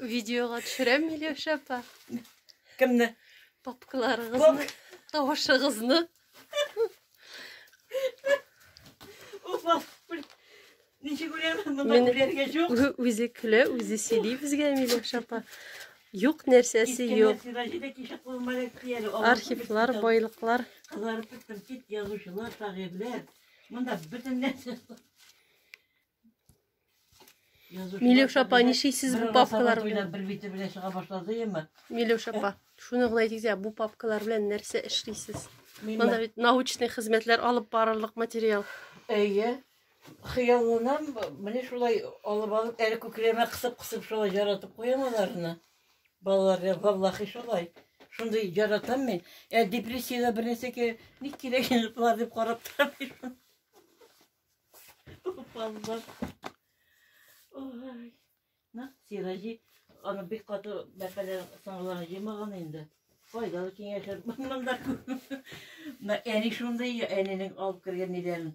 Видеога төшерәм, Миләүшә апа. Кемне? Папкаларыгызны, тавышыгызны. Опа, ничек үләмен, монда үләргә юк. Үзе көлә, үзе сөйли безгә, Миләүшә апа. Юк нәрсәсе юк. Архивлар, байлыклар. Кызарып беттем, кит язучылар, шагыйрьләр. Монда бөтен нәрсә. Милюш апа, нишейсез бу папкалар белән? Бер бите белән чыга башлады яме. Милюш апа, шуны гына әйтик дә, бу папкалар белән нәрсә эшлисез? Монда бит научный хезмәтләр алып барырлык материал. Әйе. Хыялланам, менә шулай алып алып, әле күкрәмә кысып-кысып шулай яратып куям аларны. Балаларга валлахи шулай. Шундый яратам мин. Ә депрессиядә бернәрсәгә ник кирәк инде булар дип карап торам. Баллар. Ой. На, сираҗи. Аны бик каты бәпәләр саңларын җыймаган инде. Файдалы киңәшер. Монда. На, әни шундый, әнинең алып кергән ниләрен.